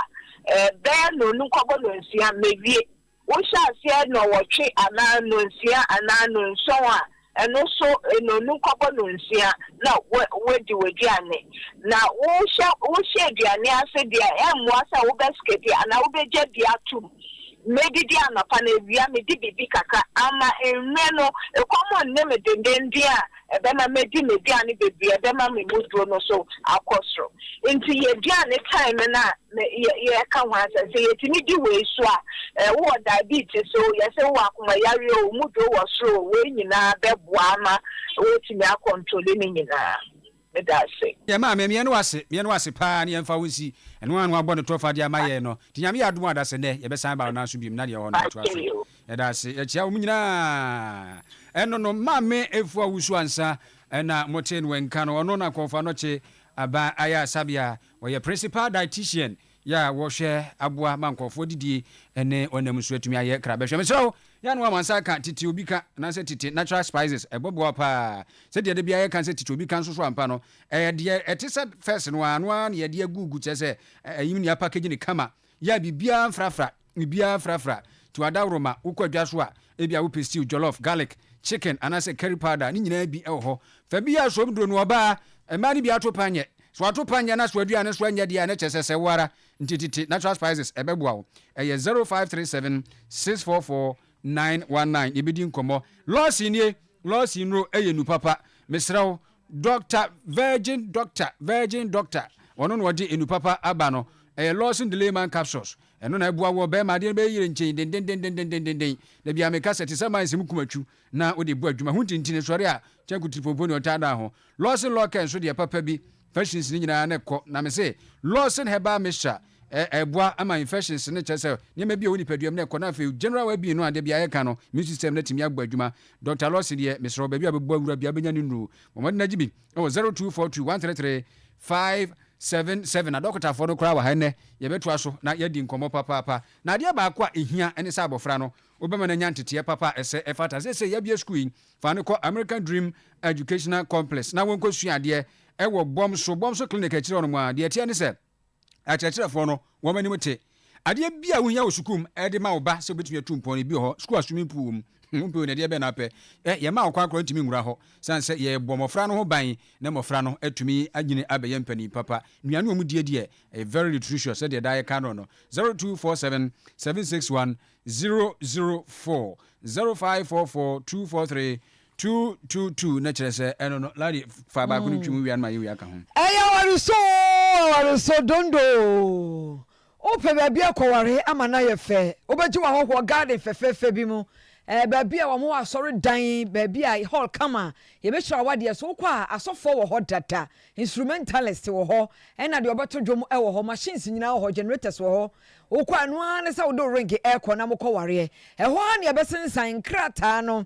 bɛyɛ nnɔnum kɔbɔ nnɔnsia, mawie. Wohyɛ aseɛ nnɔnwɔtwe anaa nnɔnsia anaa nnɔnson a, ɛno nso nnɔnum kɔbɔ nnɔnsia na woadi w'aduane. Na wohyɛ aduane ase deɛ a, ɛmmoa sɛ wobɛskɛpi anaa wobɛgya bi atom. Medidi anɔpa na awia medi biribi kakra ama anwummere no ɛkɔm nne me dendenden a ɛbɛma madi m'aduane bebree a ɛbɛma me mu duro no so akɔ soro. Enti yɛ aduane time no a me yɛ yɛreka ho asɛm. Sɛ yɛtumi di wei so a, eh, wowɔ diabetes o, yɛsɛ wowɔ akomayareɛ o, wo mu duro wɔ soro o, wei nyinaa bɛboa ama woatumi akɔntole ne nyinaa. Meda ase. Yɛn maame, meɛ no wo ase, meɛ no wo ase paa, ne yɛmfa wo nsi ɛno a na wabɔ ne tɔfa de ama yɛn no, nti Nyame yɛ adom a dasɛ nɛ yɛbɛsan aba wo nan so biom na deɛ ɛwɔ hɔ no yɛtoa so. Yɛda ase, yɛkyea wɔn nyinaa. Ɛno no, Maame Afua Owusu Ansah na motee no nka no, ɔno na Kɔɔfo Anɔkye Aban Ayarsabeɛ a ɔyɛ Principal Dietitian Yɛ a wɔhwɛ aboa ma nkurɔfoɔ didie ne ɔnam nso atumi ayɛ kra. Bɛhwɛ mesrɛ wo, yɛ a na woama nsa aka tete obi ka anaasɛ tete natural spices, ɛbɛboa wo paa. Sɛdeɛ da biara yɛka sɛ tete obi ka nso so ampa no, ɛyɛ deɛ ɛte sɛ first no ara no ara na yɛde agugu kyerɛ sɛ ɛyim na yɛapackage no kama, yɛ a biribiara mfrafra. mu biara frafra. Tu adaworo ma wokɔ adwa so a, ebia wopɛ stew, jollof, garlic, chicken, anaasɛ curry powder a ne nyinaa bi wɔ hɔ. Fa bi yɛ asomduro no. Ɔbaa, mmaa no bi ato panyɛ. Sɛ wɔato panyɛ na so aduan no so anyɛ de a, na kyerɛ sɛ sɛ wo ara nti tete natural spices ɛbɛboa wo. Ɛyɛ zero five three seven six four four nine one nine yɛbɛdi nkɔmmɔ. Lawson nie, Lawson nnuro yɛ nnu papa. Mesrɛ wo, Doctor Virgin Doctor, Virgin Doctor, ɔno na ɔde nnu papa aba no. Ɛyɛ Lawson Delay Man Capsules. Ɛno na ɛboa wo ɔbarima. Adeɛ no bɛyɛ yere nkyɛn dendendendendendenden. Da biara meka sɛ, te sɛ mines mu kumatwu na wode bu adwuma. Ho ntintini sɔre a, kyɛn kutiripɔmpɔ ni ɔtaa da ho. Lawson Lorcan nso deɛ papa bi. Infections no nyinaa na ɛkɔ. Na mese, Lawson Herbal Mixture, ɛ, ɛboa ma infections no, kyerɛ sɛ, nneɛma bi a ɛwɔ nipaduam no kɔ. Na afei, general well being no a da biara yɛka no, immune system no atumi abɔ adwuma. Dɔkta Lawson deɛ, mesrɛ wo, baabi a wobɛbɔ awura biara, wobɛnya ne nnuro. Bɔ mmɔden na gye bi wɔ 0242 133 5. Seven seven adɔkotafoɔ no koraa wɔ ha ɛnnɛ, yɛbɛtoa so na yɛadi nkɔmmɔ papaapa. Na adeɛ baako a ɛhia ne sɛ abɔfra no, wobɛma no anya nteteɛ papa a ɛsɛ ɛfata. Seesei yɛabue sukuu yi, fa no kɔ American Dream Educational Complex na wɔnkɔsua adeɛ ɛwɔ Bomso, Bomso Clinic akyire hɔnom ara. Deɛ ɛteɛ ne sɛ, akyerɛkyerɛfoɔ no, wɔn anim te. Adeɛ bi a wohia wɔ sukuu mu de ma wo ba sɛ obetumi atu mpɔn no, ebi wɔ hɔ. Sukuu a swimming pool wɔ mu, wompɛ o, na ɛdeɛ bɛn na wopɛ? Ɛ, yɛmmaa wo kwan koraa wontumi nwura hɔ, sane sɛ yɛrebɔ mmɔfra no ho ban na mmɔfra no atumi anyini abɛyɛ mpanin papa. Nnuane a wɔdie deɛ, ɛyɛ very nutritious, sɛdeɛ daa yɛka no no. Zero two four seven seven six one zero zero four zero five four four two four three Two two two na kyerɛ sɛ ɛno no ladi fa baako no twi mu wia no ma yɛ wia ka ho. Ɛyɛ awaresɔ oo awaresɔ dondo oo wopɛ baabi akɔware ama no ayɛ fɛ wobɛgye w'ahɔhoɔ garden fɛfɛɛfɛ bi mu ɛɛ baabi a wɔn asɔre dan baabi a hall kama yɛbɛhyira wadeɛ so wokɔ a asɔfoɔ wɔ hɔ dada instrumentalist wɔ hɔ ɛna deɛ ɔbɛto dwom wɔ hɔ machines nyinaa wɔ hɔ generators wɔ hɔ wokɔ a ɛno ara ne sɛ wode wo ring ɛrekɔ na mokɔ wareɛ ɛhɔ ha ne ɛbɛsensan nkrataa no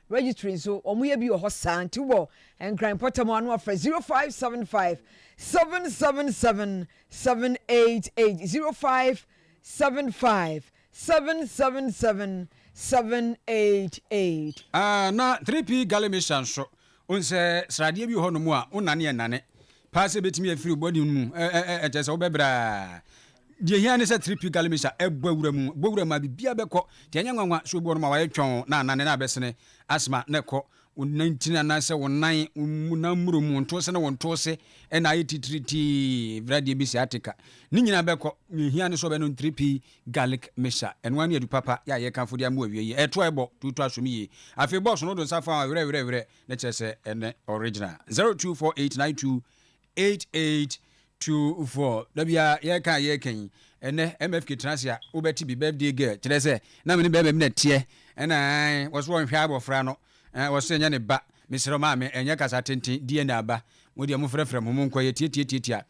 Registry nso wɔn yɛ bi wɔ hɔ saa nti wobɔ Nkran mpɔtam a na wafrɛ 0575 777 788 0575 777 788. Ah na 3P Galley Mission nso wohu sɛ sradeɛ bi wɔ hɔ nom a wonane ɛnane paa sɛ ɛbɛtumi afiri wo body no mu ɛkyɛsɛ wobɛbrɛ a Deɛ ɛhia ne sɛ Tripi Galimisa bɔ wura mu, bɔ wura mu a biribiara bɛkɔ. Deɛ ɛnyɛ nwanwa nso boɔ no ma wayɛ twɔnn na anane no abɛsene, asthma no rekɔ wo nantini anaasɛ wo nan, wo nan mmuro mu, wo ntose ne wo ntose na ayɛ titiritii, wura deɛ bi sciatica. Ne nyinaa bɛkɔ. Deɛ ɛhia ne sɛ wobɛnom Tripi Garlic Mixture. Ɛno ara ne adu papa yɛ a yɛkamfo de ama wo awiei yi. Ɛto a ɛbɔ, to to asom yie. Afei bɔs no, wo de nsa fa ho a, werɛwerɛwerɛ, na kyerɛ sɛ ɛnɛ original. 024892. 8824 da biara yɛka a yɛka yi ɛnɛ mfk tena ase a wobɛte bi birthday girl kyerɛ sɛ na me ne bɛrima bi na teɛ ɛna wɔso wɔnhwɛ abɔfra no wɔso ɛnyɛ ne ba mesrɛ maame ɛnyɛ kasa tenten dna aba mo deɛ mo frɛfrɛ mo mo nkɔ yɛ tiatiatiatia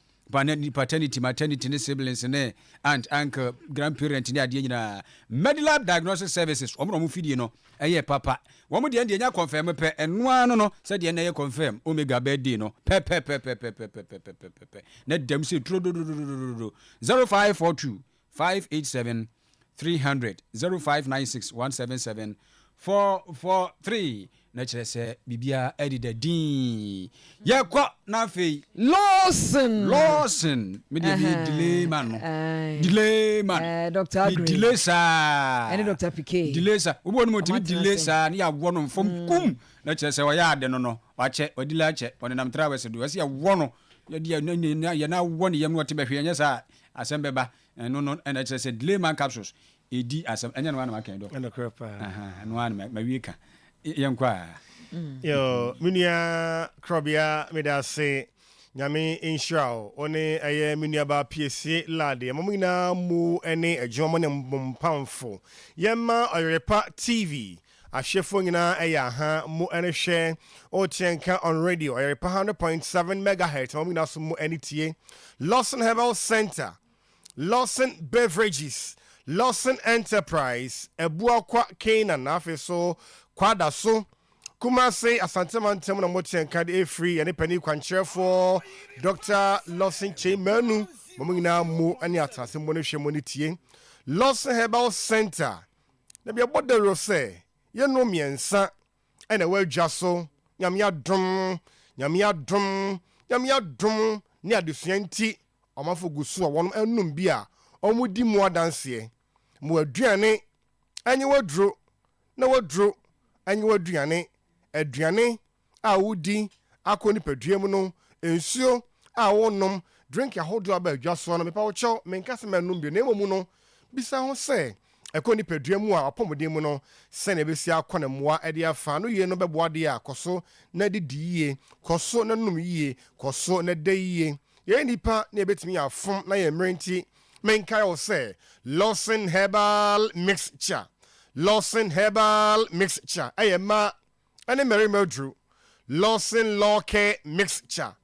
paternity maternity ne siblings ne aunt uncle grandparent ne adeɛ nyinaa Medilab diagnostic services wɔn na wɔn fidie no Ɛyɛ papa. Wɔn deɛ no deɛ ɛnya confirm pɛ, ɛno ara no no sɛdeɛ ɛnnɛ yɛ confirm Omega birthday no pɛpɛpɛpɛpɛpɛpɛpɛpɛpɛpɛpɛ na ɛdam sei turododododododododo, zero five four two five eight seven three hundred, zero five nine six one seven seven four four three na kyerɛ sɛ biribiara ɛdeda dinn. Yɛkɔ na afei. Lawson. Lawson me deɛ meyɛ delay man no delay man Dr. Aggrey delay saa ɛne Dr. Pike delay saa wobɔ no mu ɔtumi delay saa ne yɛawɔ no mfam mm. kum na kyerɛ sɛ ɔyɛ ade no no wakyɛ wadila akyɛ ɔnenam trawɛse do ɛsɛ yɛwɔ no yɛde yɛn awɔ ne yam no ɔte bɛhwe ɛnyɛ saa asɛm bɛba Ɛno no ɛna ɛkyerɛ sɛ delay man capsules ɛdi asɛm ɛnyɛ no ara na maka yi dɔkta. Nokorɛ paa. Aha ɛno ara na mawie ka. Yɛnkɔ a. Yo, me nua Krɔbea meda ase Nyame nhyira wo, wo ne ɛyɛ me nuabaa Piesie Lade ɛma mo nyinaa mmu ɛne adwuma mo ne mo mpamfo. Yɛmma Ɔyerepa TV Ahyefo nyinaa ɛyɛ aha mu ɛrehwɛ Okyerɛ Nka on Radio Ɔyɛrepa hundred point seven megahertz na wɔn nyinaa so mu ɛne tie Lawson Herbal Center, Lawson Beverages, Lawson Enterprise, Abuakwa, Canaan na afei so Kwadaso, Kumasi, Asante Mantam na Mokyerɛ Nka de ɛfiri yɛne panin kwankyerɛfoɔ Dɔkta Lawson Kyei Manu ma mo nyinaa mu ɛne atenase mu ne hwɛ mu ne tie Lawson Herbal Center Na yɛbɔ dawuro sɛ yɛnom mmiɛnsa na ɛwɔ adwa so, Nyame adom, Nyame adom, Nyame adom ne adesua nti ɔmanfo gu so a wɔnom ɛnom bi a wɔdi mu adanseɛ. Ma w'aduane ɛnye w'aduro na w'aduro ɛnye w'aduane, aduane, a wodi akɔ nipadua mu no, nsuo a wonom, drink ahodoɔ a aba adwa soɔ no, mepa wo kyɛw, menka sɛ mɛnom bio, na mmom no, bisa ho sɛ, ɛkɔ nipadua mu a, w'apɔmuden mu no, sɛdeɛ ɛbɛsi akɔ na mmoa de afa ano yie no bɛboa deɛ a, kɔ so na didi yie, kɔ so na nom yie, kɔ so na da yie. Yɛyɛ nnipa na yɛbɛtumi afom na yɛn mmerɛ nti, menkae wo sɛ, Lawson Herbal Mixture, Lawson Herbal Mixture, ɛyɛ mmaa ne mmarima aduru, Lawson Law Care Mixture.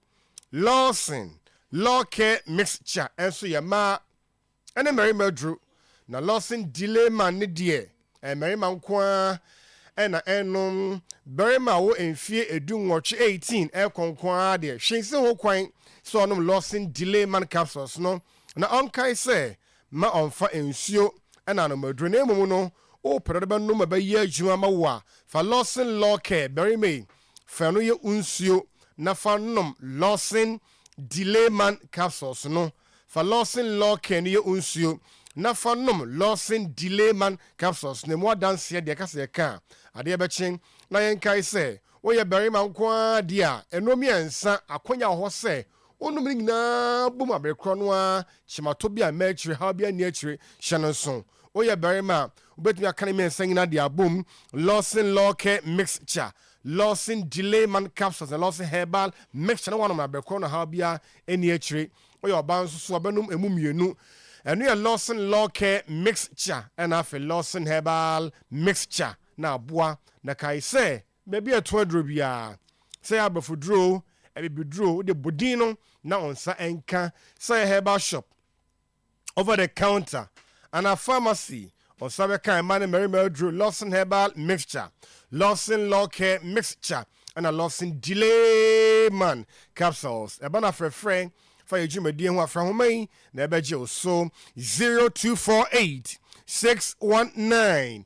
Lawson Law Care Mixture nso yɛ mmaa ne mmarima aduru, na Lawson Dileman no deɛ, ɛyɛ mmarima nko ara na ɛnnom. Barima a ɔwɔ mfeɛ edu nwɔtwe, 18, rekɔ nko ara deɛ, hwee nsi ho kwan sɛ ɔnom Lawson Dileman capsules no, na ɔnkae sɛ Mma ɔmmfa nsuo na anomaduro, na mmom no, wopɛ dɛ wode bɛnom ma ɛbɛyɛ adwuma ama wo a, fa Lawson Law Care, barima yi, fa ɛno yɛ wo nsuo na fa nom Lawson Delay Man Capsules no. Fa Lawson Law Care no yɛ wo nsuo na fa nom Lawson Delay Man Capsules no. Ɛmu adanseɛ deɛ, ɛka sɛ yɛka a, adeɛ bɛkye. Na yɛnkae sɛ, woyɛ barima nko ara deɛ a, ɛno mmiɛnsa, akwannya wɔ hɔ sɛ Wonom ne nyinaa bom abere korɔ no ara, kyemato bi a mma akyire, haw biara nni akyire, hyɛ no nso. Woyɛ barima a, wobɛtumi aka ne mmiɛnsa nyinaa de abom, Lawson Lawcare Mixture, Lawson Delayman Capsules na Lawson Herbal Mixture na woanom no abere korɔ na haw biara nni akyire. Woyɛ ɔbaa nso so a, wobɛnom ɛmu mmienu. Ɛno yɛ Lawson Lawcare Mixture ɛna afei Lawson Herbal Mixture na aboa. Na kae sɛ, Baabi a ɛtoa duro biara, sɛ ɛyɛ abɛfoduro o, abibiduro o, wode bɔ din no na wo nsa nka. Sɛ ɛyɛ herbal shop, over the counter, anaa pharmacy, wo nsa bɛka mmaa ne mmarima aduro, Lawson Herbal Mixture, Lawson Lawcare Mixture, ɛna Lawson Delayman Capsules. Ɛba no afrɛfrɛ. Fa yɛn dwumadie ho afra nhoma yi na ɛbɛgye wo so, 0248 619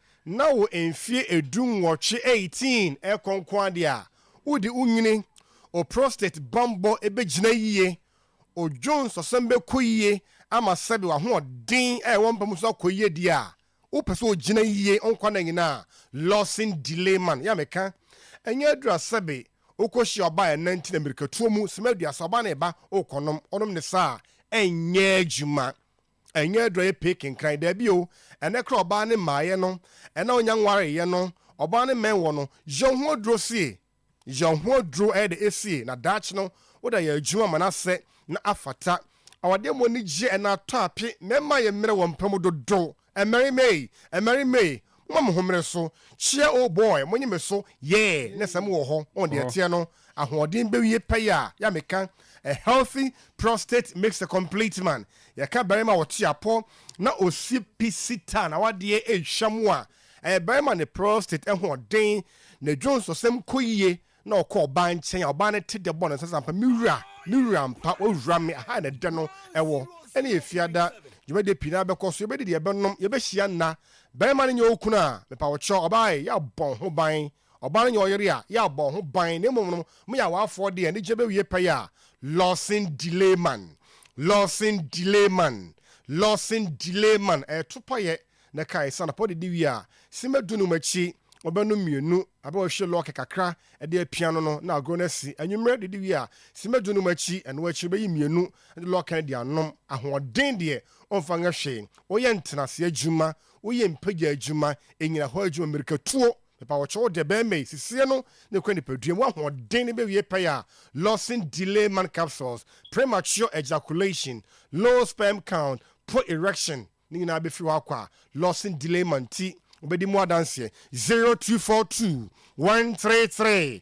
na wo mfie edu nwɔtwe, eighteen, ɛkɔ nko ara deɛ a, wode wo nwene, wo prostate bammɔ bɛgyina yie, wo dwo nsɔsɔm bɛkɔ yie ama sɛbe w'ahoɔden a ɛwɔ mpa mu nso akɔ yie deɛ a, wopɛ sɛ ogyina yie nkwa nna nyina a, losing delay man, yɛ a meka, ɛnyɛ aduru a sɛbe wokɔhyia ɔbaa a ɛnna nti na mmirikatuo mu, sima aduasa, ɔbaa no reba, worekɔnom, wonom ne saa a, ɛnyɛ adwuma. Ɛnyɛ adurayɛ pee kenkan, dabi o, ɛnɛ koraa ɔbaa ne mmaeɛ no, ɛna ɔnya nwareeɛ no, ɔbaa ne mmɛn wɔ no, yɛ wo ho aduro sie, yɛ wo ho aduro ɛyɛ dɛ sie, na daakye no woda yɛ adwuma ma no asɛ na afata. Awadeɛ mu anigyeɛ ɛna atɔ ape, mmarima yɛ mmerɛ wɔ mpa mu dodo, mmarima ei, mmarima ei, momma mo ho mmere so, kyea oh boy, monye me so, yeah, na sɛ mo wɔ hɔ, oh deɛ ɛteɛ no, ahoɔden bewie pɛyɛ a, yɛ a meka a healthy prostate makes a complete man, yɛka barima a ɔte apɔ na ɔsi pi sitaa na wadeɛ ɛretwa mu a, ɛyɛ barima ne prostate ahoɔden, ne dwonsɔsɛm kɔ yie na ɔkɔ ɔbaa nkyɛn a, ɔbaa no te dɛ bɔ no nsɛ sɛ ampa me wura, me wura ampa, wawura me, ɛha na ɛdɛ no wɔ. Ɛne yɛ fiada dwumadie pii no ara bɛkɔ so, yɛbɛdidi, yɛbɛnom, yɛbɛhyia nna. Barima no nyɛ wo kunu a, mepa wo kyɛw, ɔbaa e, yɛ a bɔ wo ho ban. Ɔbaa no nyɛ ɔyere a yɛ abɔ ho ban na mmom no mo yɛ awaafoɔ deɛ ne gyina bɛwie pɛyɛ a lɔsen delay man lɔsen delay man lɔsen delay man ɛɛto payɛ na ɛka ɛsa anɔpa ɔde di wie a simma du num akyi ɔbɛ nom mmienu abɛ ɔhwie lɔke kakra ɛde apia no no na agorɔ no asi anwummerɛ de di wie a simma du num akyi ɛno akyi ɔbɛyi mmienu de lɔke no de anom ahoɔden deɛ ɔmfa nyɛ hwee woyɛ ntenaseɛ adwuma woyɛ mpagya adwuma anyinahɔ adwuma mmirikatuo Mepa wo kyew debɛn mei sisiɛ no ne kura nipadua mu ahoɔden ne bɛwie pɛyɛ a Lawson delay man capsules, premature ejaculation, low sperm count, poor erection ne nyinaa bɛfiri hɔ akɔ a Lawson delay man nti wobɛdi mu adanseɛ, zero two four two one three three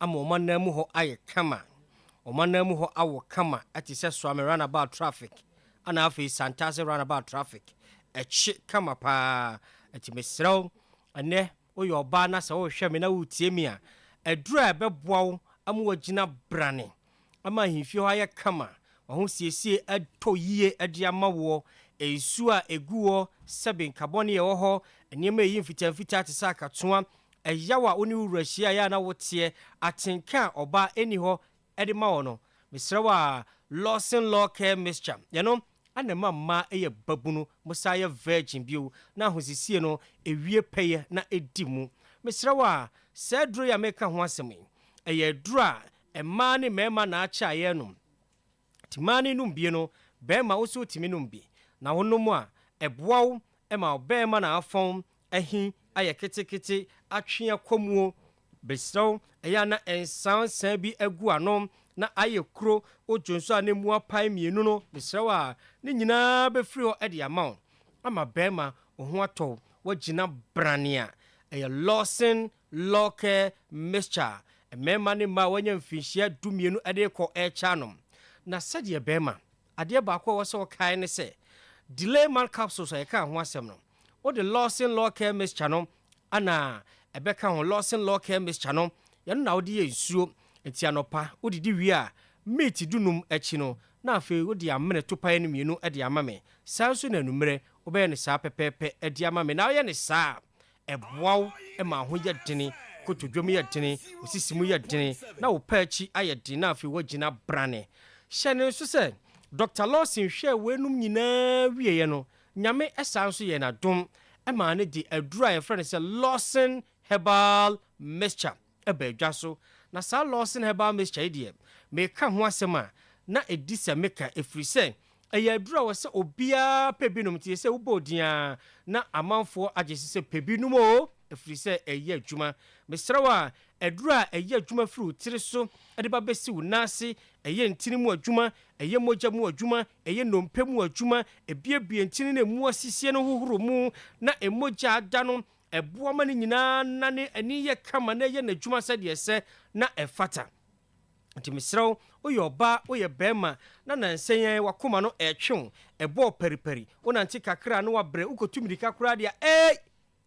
ama wɔn anan mu hɔ ayɛ kama. Wɔn anan mu hɔ awo kama te sɛ Suame Runabout traffic ɛna afei Santase Runabout traffic. Ɛkye kama paa. Nti mesrɛ wo, ɛnɛ woyɛ ɔbaa na sɛ worehwɛ me na woretie me a, aduru a ɛbɛboa wo ama woagyina brane ama ahemfie hɔ ayɛ kama, w'ahosiesie atɔ yie de ama woɔ, nsuo a ɛgu hɔ, sɛbe nkabɔne a ɛwɔ hɔ, nneɛma a ɛyi mfitaa mfitaa te sɛ akatoa, ɛyaw a wo ne wo wura hyia a ɛyɛ a na woteɛ, atenka a ɔbaa ɛnni hɔ de ma wo no, mesrɛ wo a, Lawson Law Care Mixture, ɛno na ɛma mmaa yɛ babunu, mosan yɛ virgin bio, na ahosiesie no ɛwie pɛyɛ na ɛdi mu. Mesrɛ wo a, saa aduro yi a mereka ho asɛm yi, ɛyɛ aduro a Mmaa ne mmarima na akyɛ a yɛrenom. Nti mmaa no nom bi no, barima wo nso wotumi nom bi. Na wonom a, ɛboa wo ma wo barima no afɔn ahi ayɛ ketekete, atwe akɔ muo. Mesrɛ wo, ɛyɛ a na nsa nsa bi gu ano na ayɛ kuro, wodwo nso a na mu apae mmienu no, mesrɛ wo a, ne nyinaa bɛfiri hɔ de ama wo. Ama barima, wo ho atɔ wo, woagyina branee a, ɛyɛ lawson Lorke Mixture, mmarima ne mmaa a wɔanya mfinhyia dumienu de rekɔ rekyɛ anom. Na sɛdeɛ bɛrima, adeɛ baako a ɛwɔ sɛ wokae ne sɛ, Delay Man Capsules a yɛkaa ho asɛm no, wode Lorsen Lorke Mixture no na ɛbɛka ho. Lorsen Lorke Mixture no, ɛno na wode yɛ nsuo. Enti anɔpa, wodidi wie a, meeti dunum akyi no, na afei wode amene topae no mmienu de ama me. Saa ara nso na anwummerɛ, wobɛyɛ no saa pɛpɛɛpɛ de ama me. Na woyɛ no saa a, ɛboa wo ma wo ho yɛ dene, kotodwe mu yɛ dene, wo sisi mu yɛ dene, na wo pɛ akyi ayɛ den na afei woagyina brane. Hyɛ no nso sɛ, Dɔkta Lawson hwɛɛ weinom nyinaa wieeɛ no, Nyame san nso yɛɛ no adom maa no de aduru a yɛfrɛ no sɛ Lawson Herbal Mixture, ɛba adwa so, na saa Loss in Herbal Mixture yi deɛ, meka ho asɛm a, na ɛdi sɛ meka, ɛfiri sɛ, ɛyɛ aduro a ɛwɔ sɛ obiara pɛ bi nom, nti ɛsɛ wobɔɔ din ara na amanfoɔ agye so sɛ pɛ bi nom o, ɛfiri sɛ ɛyɛ adwuma. Mesrɛ wo a, aduro a ɛyɛ adwuma firi wo tiri so de ba bɛsi wo nan ase, ɛyɛ ntini mu adwuma, ɛyɛ mogya mu adwuma, ɛyɛ nnompe mu adwuma, ɛbuebue ntini na ɛmu asisie no hohoro mu na ɛmogya ada no, Ɛboa ma ne nyinaa na ne ani yɛ kama na ɛyɛ n'adwuma sɛdeɛ ɛsɛ na ɛfata. Nti mesrɛ wo, woyɛ ɔbaa, woyɛ barima, na nnansa yi ara w'akoma no retwe wo, ɛbɔɔ paripari, wonante kakra a na woabrɛ, wokɔtu mirika koraa deɛ a, eei!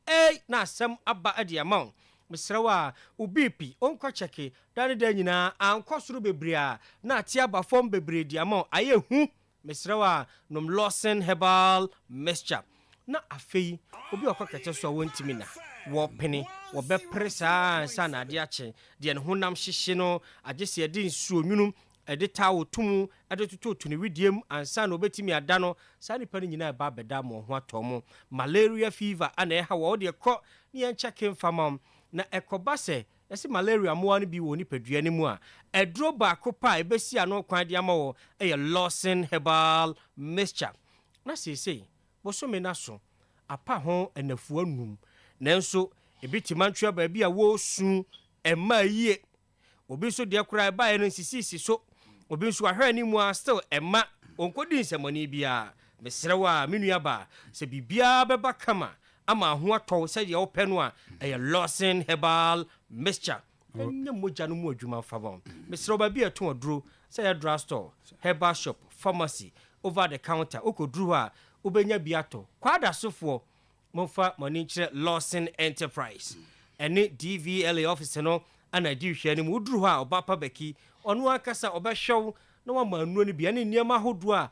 Eei! na asɛm aba de ama wo. Mesrɛ wo ara, wo BP nkɔ kyɛke, daa ne daa nyinaa ankɔ soro bebree a, na ate aba fam bebree de ama wo. Ayɛ hu! Mesrɛ wo a nom Lawson herbal mixture na afei obi a ɔkɔ kɛtɛ so a wɔntumi na wɔpene, wɔbɛpere saa ara ansa na ade akye. Deɛ ne honam hyehye no, agye sɛ yɛde nsuo nwunu, ɛde towel to mu de tototo ne wedeɛ mu ansa na ɔbɛtumi ada no. Saa nnipa no nyinaa ɛba abɛda ama wɔn ho atɔ mo. Malaria fever a na ɛha wo a, wo deɛ kɔ na yɛnkyɛke mfa ma wo. Na ɛkɔba sɛ Sɛ malaria mmoa no bi wɔ wo nipadua no mu a, aduro baako pɛ a ɛbɛsi ano kwan de ama wo yɛ Lawson Herbal Mixture. Ná seesei bosome no aso apa ho nnafua nnum, nanso ebi te Mantua baabi a wɔresu mmaa yie. Obi nso deɛ koraa ɛbaeɛ no nsisiisi so. Obi nso wahwɛ anim ara still ɛmma ɔnkɔdi nsɛmmɔne biara. Mesrɛ wo a, me nuabaa, sɛ biribiara bɛba kama ama ho atɔ wo sɛdeɛ wopɛ no a, ɛyɛ Lawson Herbal Mixture. Ɛnyɛ mogya no mu adwuma mfa ma wo. Mesrɛ wo, baabi a ɛtɔn aduro, sɛ ɛyɛ drug store, herbal shop, pharmacy, over the counter, wokɔduru hɔ a, wobɛnya bi atɔ. Kwadasofoɔ, momfa mo ani nkyerɛ Lawson Enterprise. Ɛne DVLA office no na ɛdi nhwɛɛ no mu. Woduru hɔ a, Ɔbapa Baki, ɔno ankasa ɔbɛhwɛ wo na wama nnuro no bi, ɛne nneɛma ahodoɔ a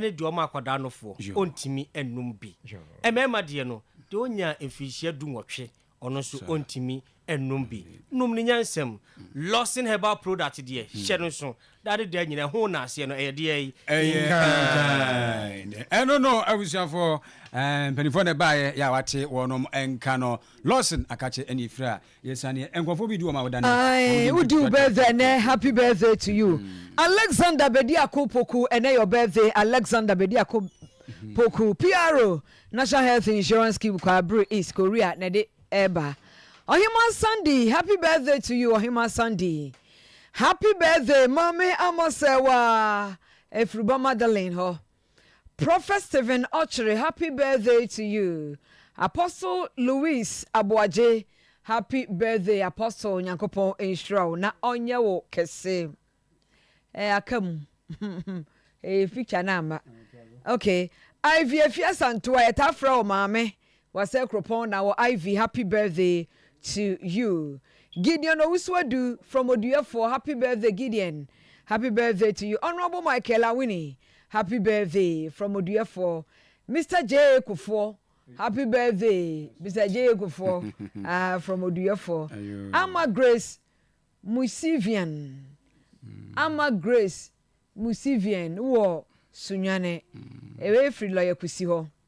ne deɛ ɔma akwadaa nofoɔ, ɔntumi nnum bi. Mmarima deɛ no, deɛ ɔnya mfirinhyia du nwɔtwe, ɔno nso ɔntumi nnum bi. Nom no nyansam. Lawson herbal product deɛ, hyɛ no nso, daa ne daa nyina, ɛho nnaaseɛ no, ɛyɛ deɛ yi. Inkind. Ɛno no, abusuafoɔ, eh, mpanimfoɔ na ɛbaeɛ, yɛ a wate wɔnom nka no. Lawson akakye ɛne efira, Ae wodi wo birthday ɛnɛ happy birthday to you Alexander Bediako Poku ɛnɛ your birthday Alexander Bediako Poku PRO National Health Insurance Scheme Kwabre East Korea na ɛde ɛɛba Ɔhema Sandy happy birthday to you Ɔhema Sandy happy birthday Maame Amosewa Afiriba Magdalene hɔ. Prophet Stephen Okyere Happy Birthday to you Apostle Louis Aboagye Happy Birthday Apostle Nyankopɔn nhyira wo na ɔnyɛ wo kɛse eh aka mu eh picture no amma okay Ivy Afia Santua yɛtaa frɛ wo maame Wɔasɛe kuropɔn na wɔ Ivy happy birthday to you Gideon Owusu-Adu from Oduyefoɔ happy birthday Gideon happy birthday to you Honourable Michael Awini happy birthday from Oduyefoɔ Mister Jay Kufuor happy birthday Mister Jay Kufuor ah from Oduyefoɔ Ama Grace Musivian Ama Grace Musivian wɔ Sunyani ɛyɛ firi Lɔyakusi hɔ.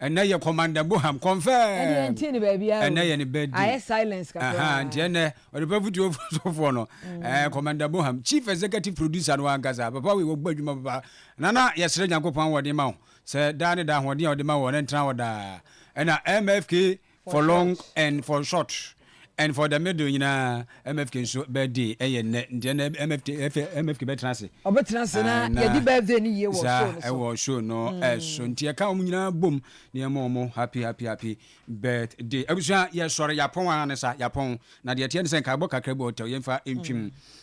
Ɛnɛ yɛ Commander Boham confirm. Ɛnde yɛn ntie no baabiara o. Ɛnɛ yɛ ne birthday. Ayɛ silence kakra. Ahaa nti ɛnɛ ɔde pɛ futuo fo sɔfoɔ no. Ɛɛ Commander Boham chief executive producer no ankasa. Papa wei wɔbɔ adwuma papa. Nana yɛsrɛ Nyankopɔn ahoɔden ma wo. Sɛ daa ne daa ahoɔden a ɔde ma wɔ no ɛntena hɔ daa. Ɛna MFK for long and for short and for the middle nyinaa mfk nso birthday ɛyɛ nnɛ nti ɛnna mfk mfk bɛtena ase. ɔbɛtena ase na ah, yɛde birthday no yie wɔ show no so ɛwɔ show no mm. ɛso nti ɛka wɔn nyinaa bom na yɛn mɔ wɔn happy happy happy birthday abusua yɛsɔre yapɔn ara ne sa yapɔn na deɛ ɛteɛ ne sɛ nkaebɔ kakra bi ɔtɛw yɛn fa ntwim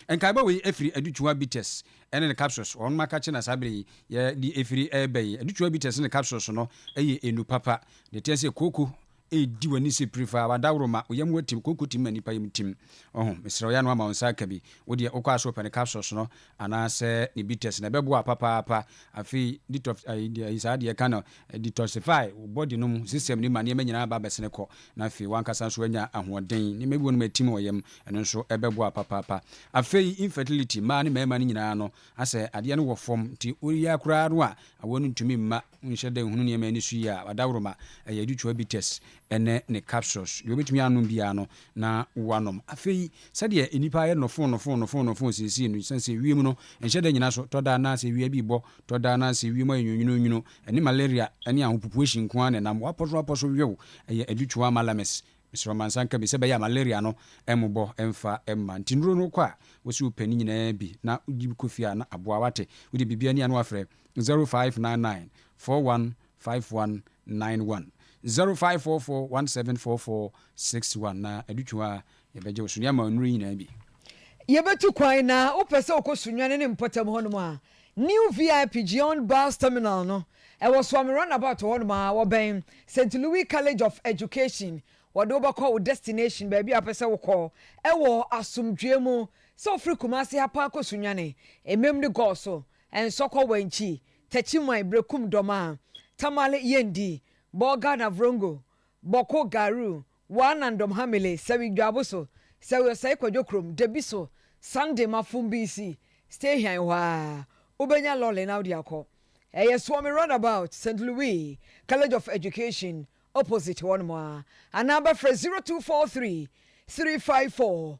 mm. nkaebɔ wei efiri adutuwa bitters ɛne ne capsules wɔn maka kye na saa bere yi yɛde efiri ɛɛbɛn adutuwa bitters ne capsules no ɛyɛ enu papa Deɛ ɛteɛ sɛ kooko redi w'ani sɛ pire faa, w'adaworo ma wo yam atim, kooko tim ma nnipa yam tim. Ɔho, mesrɛ wo yɛ ano ama wo nsa aka bi. Wo deɛ wokɔ a sɛ wopɛ ne capsules no anaasɛ ne bitters no, ɛbɛboa wo papaapa. Afei detox ayi deɛ ayi saa deɛ yɛka no, detoxify wo body no mu system no mu ma nneɛma nyinaa aba abɛsene kɔ na afei w'ankasa nso woanya ahoɔden. Nneɛma bi wɔ hɔ nom atim wɔ yam, ɛno nso ɛbɛboa wo papaapa. Afei infertility, mmaa ne mmarima no nyinaa no, asɛ adeɛ no wɔ fam nti woyɛ koraa no a awɔ no ntumi mma. Wonhyɛ da nhunu nneɛma ani so yi a, adaworoma, ɛyɛ deuterobites ne ne capsules. Deɛ wobɛtumi anom biara no, na woanom. Afei, sɛdeɛ nnipa ayɛ nnɔfoo nnɔfoo nnɔfoo nnɔfoo seesei no, ɛsiane sɛ wiem no nhyɛ da nnyina so, tɔ da na sɛ awia bi rebɔ, tɔ da na sɛ wiem ayɛ nwunwununwunu, ɛne malaria ne ahopopoahyi nko ara na ɛnam. Woapɔ so apɔ so wew, ɛyɛ adutoa malamis. Mesrɛ wo ma nsa nka bi sɛ ɛbɛyɛ a malaria no mmobɔ mfa mma. Nti nnuro no wokɔ a, wose wopɛ ne nyinaa bi na wode bi kɔ fie a, na aboa wo. Wate? Wode biribi ani a na woafrɛ zero five nine nine four one five one nine one zero five four four one seven four four six one na adutwo a yɛbɛgye wo so ne ama nnuro yi nyinaa bi. Yɛbɛtu kwan na wopɛ sɛ wokɔ Sunyani ne mpɔtam hɔnom a, New VIP Geon Bus Terminal no, ɛwɔ Suame Runabout hɔnom a, wɔbɛn Saint Louis College of Education. Wɔde wo bɛkɔ wo destination, baabi a wopɛ sɛ wokɔ wɔ asomdwoeɛ mu. Sɛ wofiri Kumasi ha paa kɔ Sunyani, mmam no gɔɔ so. Ɛnsɔ kɔ wankyi takyi man brɛ kum dɔmaa tamale yɛndi bɔ Ghana vrongo bɔ ko garu waa nan dɔm ha mele sɛwi dwaabo so sɛwi ɔsɛe kwadwo krom dabi so Sunday ma fom bi nsi stay hian hɔ aa wobɛnya lɔle na wode akɔ ɛyɛ Suomi round about Saint Louis College of Education opposite hɔ nom aa anaa bɛfrɛ 0243 354.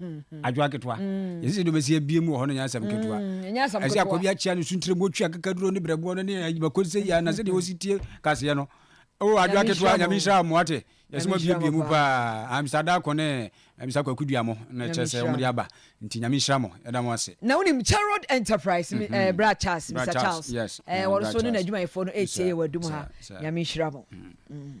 Mm-hmm. adwoa ketewa mm. yɛsɛ sɛ de ɔbɛsi abie mu wɔ hɔ no nyɛ asɛm mm, ketewa ɛsɛ akɔ bi akyea no suntere mu ɔtwi akakaduro ne brɛboɔ no ne ayibako sɛ yia na sɛdeɛ ɔsi tie kaseɛ no o adwoa ketewa nyame nhyira mmoa te yɛsɛ mabiebie mu paa amsa da akɔ ne amsa kwaku dua mo na ɛkyerɛ sɛ wɔmde aba nti nyame nhyira mo ɛda mo ase na wonim charod enterprise mm-hmm. eh, bra charles mr charles eh, wɔno so ne n'adwumayɛfoɔ no ɛtie yɛ wɔ adum ha nyame nhyira mo mm.